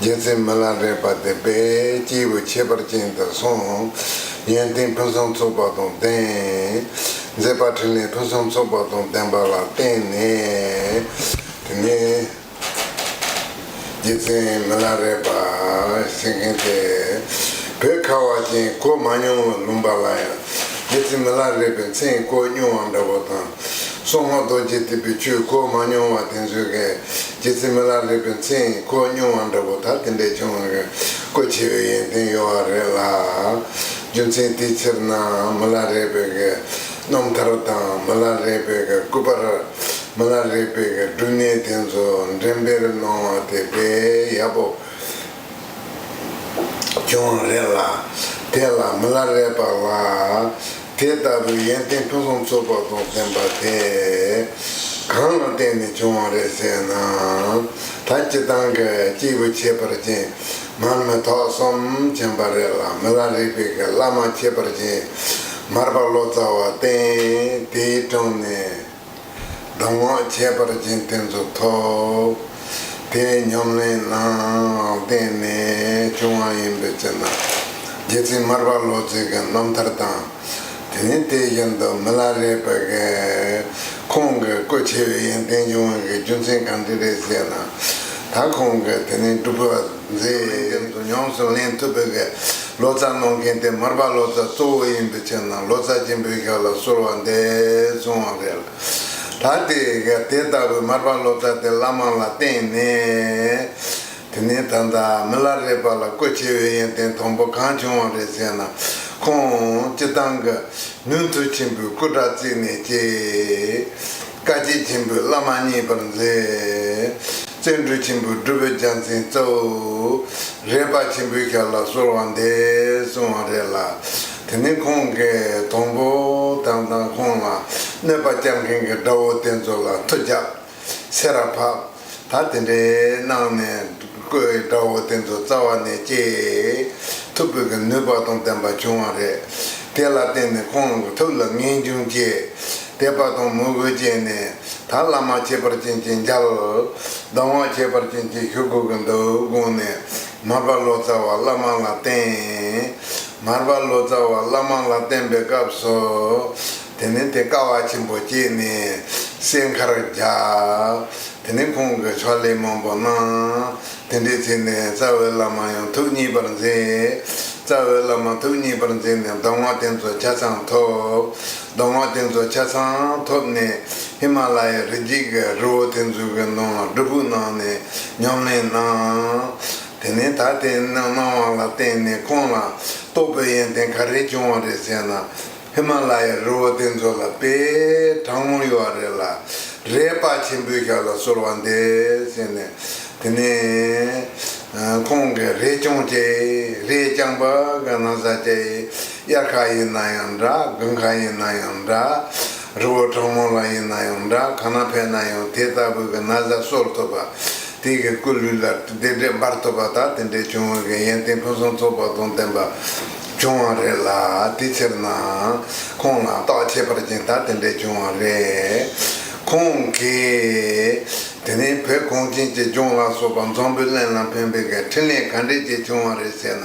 རྒྱལ་མཚན་མི་ལ་རས་པ་དེ་དཔལ་སྐྱེས་བུ་ཁྱད་པར་ཅན་དུ་གསུངས། ཡོན་ཏན་ཕུན་སུམ་ཚོགས་པ་དང་ལྡན། མཛད་པ་ཕྲིན་ལས་ཕུན་སུམ་ཚོགས་པ་དང་ལྡན་པ་ལ་བརྟེན་ནས། དེ་ནས་རྒྱལ་མཚན་མི་ལ་རས་པ་ཞེས་མཁན་ཏེ། བོད་ཁ་བ་ཅན་བཀོལ་མ་མྱོང་བའི་ལུང་པ་ལ་ཡང་རྒྱལ་མཚན་མི་ལ་རས་པའི་མཚན་བཀོལ་མྱོང་བ་འདྲ་བོ་དང། སྲུང་མ་རྡོ་རྗེ་གཏེར་བུའི་ཆོས་བཀོལ་མ་མྱོང་བ་དེ་ཚོའི་རྗེ་བཙུན་མ་ལ་ལུས་པའི་མཚན་ཡིན་ཁོ་སྨྱོན་བ་འདྲ་བོ་དག་དེ་འདྲའི་ཆུང་བ་གི་སྐུ་ཆེ་བའི་ཡོན་ཏན་ཡོད་བ་རེད་ལ། རྒྱུ་མཚན་དེའི་ཕྱིར་ན་མི་ལ་རས་པའི་གི་རྣམ་ཐར་དང་མི་ལ་རས་པའི་གི་སྐུ་པར་མི་ལ་རས་པའི་གི་སྒྲུབ་གནས་དེ་ཚོ་འགྲེམས་སྤེལ་གནང་བ་དེ་དཔེ་ཡག་པོ་ཀྱང་རེད་ལ། དེ་ལ་མི་ལ་རེད་པ་ལ། དེ་ལྟ་བུའི་ཡོན་ཏན་ཕུན་སུམ་ཚོགས་པ་རྫོགས་ཟིན་པ་དེ། གང་ལ་བརྟེན་ནས་བྱུང་བ་རེད་ཟེར་ན། ད་སྤྱི་དང་གི་སྐྱེས་བུ་ཁྱད་པར་ཅན་མར་མེ་ཐོག་གསུམ་བྱོན་པ་རེད་ལ་མི་ལ་རིག་པའི་གི་བླ་མ་ཁྱད་པར་ཅན་མར་པ་ལོ་ཙཱ་བ་བསྟེན་དེའི་དྲུང་ནས། གདམས་ངག་ཁྱད་པར་ཅན་གཏན་ཚུགས་ཐོབ། དེའི་ཉམས་ལེན་རྣམས་བསྟན་ནས་བྱུང་བ་ཡིན་པའི་ཕྱིར་ན། རྗེ་བཙུན་མར་པ་ལོ་ཙཱའི་རྣམ་ཐར་དང། དེ་ནི་དེ་བཞིན་དུ་མི་ལ་རས་པའི་ཁོང་གི་སྐུ་ཆེ་བའི་ཡོན་ཏན་འབྱུང་བའི་རྒྱུ་མཚན་གང་འདྲི་རེ་བྱས་ན། ད་ཁོང་གིས་དེ་ནི་སྒྲུབ་པ། མཛེས་ལྷན་འགན་དུ་མྱོང་གསུམ་ལེན་ཐུབ་པའི་གེ་ལོ་ཙཱ་གནང་མཁན་དེ་མར་པ་ལོ་ཙཱ་གཙོ་བོ་ཡིན་པའི་ཕྱིར་ན་ལོ་ཙཱ་ཆེན་པོའི་ཞབས་ལ་གསོལ་བ་འདེབས་སོང་བ་རེད་ལ། ད་ལྟའི་གེ་དེ་ལྟ་བུའི་མར་པ་ལོ་ཙཱ་དེ་བླ་མ་ལ་བསྟེན་ནས། དེ་ནས་ད་ལྟ་མི་ལ་རས་པ་ལ་བཀོད་ཆེ་བའི་ཡོན་ཏན་དང་པོ་གང་བྱུང་བ་རེད་ཟེར་ན། ཁོང་སྤྱི་བཏང་གི་ནུས་མཐུ་ཆེན་པོའི་སྐུ་དྲག་བརྩིས་ནས་སྐྱེས། བཀའ་སྤྱི་ཆེན་པོའི་བླ་མ་མཉེས་པར་མཛད། བརྩོན་འགྲུས་ཆེན་པོས་སྒྲུབ་པའི་རྒྱལ་མཚན་སྩལ། རས་པ་ཆེན་པོའི་ཞབས་ལ་གསོལ་བ་འདེབས་གསུང་བ་རེ་ལ། དེ་ནས་ཁོང་གིས་དང་པོ་དམ་གཙང་ཁོང་ལ་གནོད་པ་བསྐྱལ་མཁན་གྱི་དགྲ་བོ་དེ་ཚོ་ལ་མཐུ་བྱབྱསེ་ར་ཕབསེ་ད་དེ་འདྲའི་གནང་ནས་བསྐོས་དགྲ་བོ་དེ་ཚོ་རྩ་བ་ནས་བཅད་ཐུབ་པོད་ཀྱི་ནུས་པ་དང་ལྡན་པ་བྱུང་བ་རེད། དེ་ལ་བརྟེན་ནས་ཁོང་ལུགས་ཐུབ་ལ་ངེས་འབྱུང་བཅད་དད་པ་དང་མོས་གུས་བཅད་ནས་ད་བླ་མ་ཁྱད་པར་ཅན་གྱི་མཇལ། སྡང་བ་ཁྱད་པར་ཅན་གྱི་ཞུ་དགོས་ཀྱི་འདུག་དགོངས་ནས་མར་པ་ལོ་ཙཱ་བ་བླ་མ་ལ་བསྟན། མར་པ་ལོ་ཙཱ་བ་བླ་མ་ལ་བསྟན་པའི་སྐབས་སུ། དེ་ནས་དེ་ཀ་བ་ཆེན་པོ་བསྐྱེད་ནས་སའི་མཁར་རྒྱག། དེ་ནས་ཁོང་གི་ཕྱག་ལེན་མང་པོ་གནང། དེ་འདྲའི་ཚེ་ནས་རྩ་བའི་བླ་མ་ཡང་ཐུགས་མཉེས་པར་མཛད། རྩ་བའི་བླ་མ་ཐུགས་མཉེས་པར་མཛད་ནས་མདོ་སྔགས་རྟེན་གཙོ་ཆ་ཚང་ཐོབ། མདོ་སྔགས་རྟེན་གཙོ་ཆ་ཚང་ཐོབ་ནས་ཧི་མ་ལ་ཡའི་རི་རྒྱུད་ཀྱི་རི་བོ་ཐེར་འཛུགས་ཀྱི་ནང་ལ་སྒྲུབ་ཕུག་གནང་ནས་ཉམས་ལེན་གནང། དེ་ནས་ད་ལྟའི་སྣང་བ་ལ་བརྟེན་ནས་ཁོང་ལ་རྟོགས་པའི་ཡོན་ཏན་ག་རེ་བྱུང་བ་རེད་ཟེར་ན། ཧི་མ་ལ་ཡའི་རི་བོ་དེ་ཚོ་ལ་དཔེ་དྲང་མོ་ཡོད་བ་རེད་ལ། རས་དཔའ་ཆེན་པོའི་ཞབས་ལ་གསོལ་བ་འདེབས་ཟེར་ནས། དེ་ནས། ཁོང་གིས་རས་ཆུང་བཅས་རས་རྐྱང་པ་གི་ན་བཟའ་བཅས་དབྱར་ཁ་ཡིན་ན་ཡང་འདྲ་དགུན་ཁ་ཡིན་ན་ཡང་འདྲ། རི་བོ་དྲང་མོ་ལ་ཡིན་ན་ཡང་འདྲ་གང་ན་ཕེབས་ན་ཡང་དེ་ལྟ་བུ་གི་ན་བཟའ་གསོལ་ཐུབ་པ། དེ་གི་སྐུ་ལུས་ལ་དེ་འདྲས་འབར་ཐུབ་པ་དག་དེ་འདྲས་བྱུང་བ་གི་ཡན་ཏན་ཕུན་སུམ་ཚོགས་པ་དང་ལྡན་པ། བྱུང་བ་རེད་ལ་དེ་ཕྱིར་ན་ཁོང་ལ་རྟོག་ཁྱད་པར་ཅན་དག་དེ་འདྲས་བྱུང་བ་རེད། ཁོང་གིས། དེ་རིང་བོད་གངས་ཅན་གྱི་ལྗོངས་ལ་སོགས་པ་འཛམ་བུའི་གླིང་ལ་ཕན་པའི་འཕྲིན་ལས་ག་འདྲས་ཅིག་བྱུང་བ་རེད་ཟེར་ན།